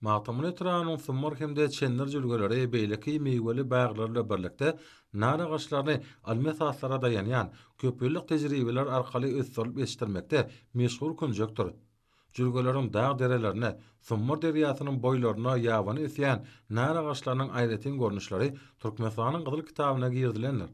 Magtymguly etrabynyň Sumar hem-de Çendir jülgeleri beýleki miweli baglary bilen birlikde nar agaçlaryny ylmy esaslara daýanýan, köpýyllyk tejribeler arkaly ösdürilip ýetişdirmekde meşhur künjekdir. Jülgeleriň dag-derelerine, Sumar derýasynyň boýlaryna ýabany ösýän nar agaçlarynyň aýratyn görnüşleri Türkmenistanyň Gyzyl kitabyna girizilendir.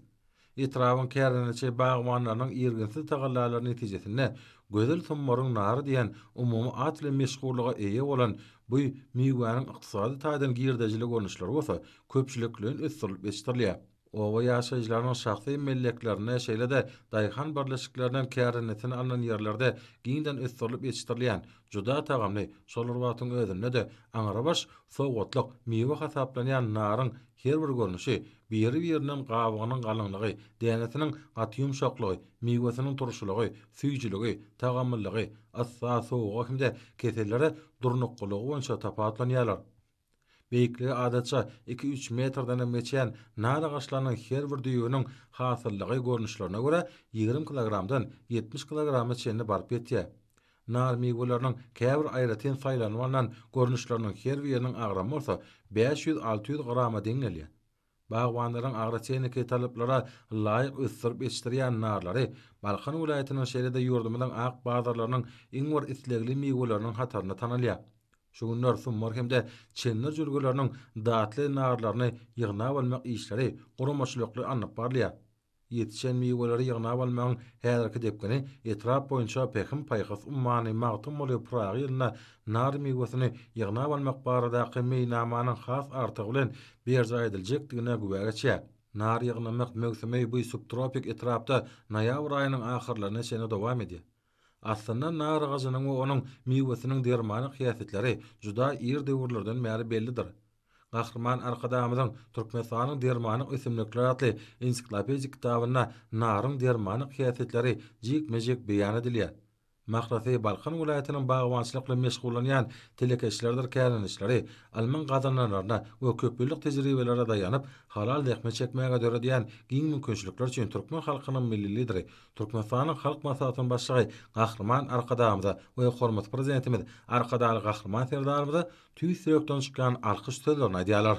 Etrabyň kärdenaçy bagbanlarynyň irginsiz tagallalary netijesinde Gözel Summaryň nary diýen umumy at bilen meşhurlyga eýe bolan bu miwäniň ykdysady taýdan girdejili görnüşleri bolsa köpçülikleýin ösdürilip ýetişdirilýär. Oba ýaşaýjylarynyň şahsy melleklerinde, şeýle-de daýhan birleşiklerinden kärdenesine alnan ýerlerde giňden ösdürilip ýetişdirilýän, juda tagamly, şol bir wagtyň özünde-de aňrybaş sowgatlyk miwe hasaplanýan naryň Her bir görnüşi, biri-birinem gabygynyň galyňlygy, dänesiniň gaty ýumşaklygy, miwesiniň turşulygy, süýjüligi, tagamlylygy, yssa, sowuga hem-de kesellere durnuklylygy boýunça tapawutlanýarlar. Beýikligi adatça iki-üç metrdenem geçýän nar agaçlarynyň her bir düýbüniň hasyllygy görnüşlerine görä ýigrimi kilogramdan ýetmiş kilograma çenli baryp ýetýär. Nar miwelerini käbir aýratyn saýlanyp alnan görnüşleriniň her biriniň agramy bolsa bäş ýüz-alty ýüz grama deň gelýär. Bagbanlaryň agrotehniky talaplara laýyk ösdürip ýetişdirýän narlary Balkan welaýatynyň şeýle-de ýurdumyzyň ak bazarlarynyň iň bir islegli miweleriniň hatarynda tanalýar. Şu günler summar hem-de çendir jülgeleriniň datly narlaryny ýygnap almak işleri guramaçylykly alnyp barylýar. Ýetişen miweleri ýygnap almagyň häzirki depgini etrap boýunça Pähim-paýhas ummany Magtymguly Pyragy ýylynda nar miwesini ýygnap almak baradaky meýilnamanyň has artygy bilen berjaý ediljekdigine güwä geçýär. Nar ýygnamak möwsümi bu subtropik etrapda noýabr aýynyň ahyrlaryna çenli dowam edýär. Aslynda nar agajynyň we onuň miwesiniň dermanlyk häsiýetleri juda ir döwürlerden bäri bellidir. Gahryman Arkadagymyzyň Türkmenistanyň dermanlyk ösümlikleri atly ensiklopedik kitabynda naryň dermanlyk häsiýetleri jikme-jik beýan edilýär. Mahrasy Balkan welaýatynyň bagbançylykly meşgullanýan telekeçileridir kärendeçileri ylmyň gazananlaryna we köpýyllyk tejribelere daýanyp, halal zähmet çekmäge döredýän giň mümkinçilikler üçin türkmen halkynyň Milli Lideri Türkmenistanyň Halk Maslahatynyň Başlygy Gahryman Arkadagymyza we hormatly Prezidentimiz Arkadagly Gahryman Serdarymyza tüýs ýürekden çykýan alkyş sözlerini aýdýarlar.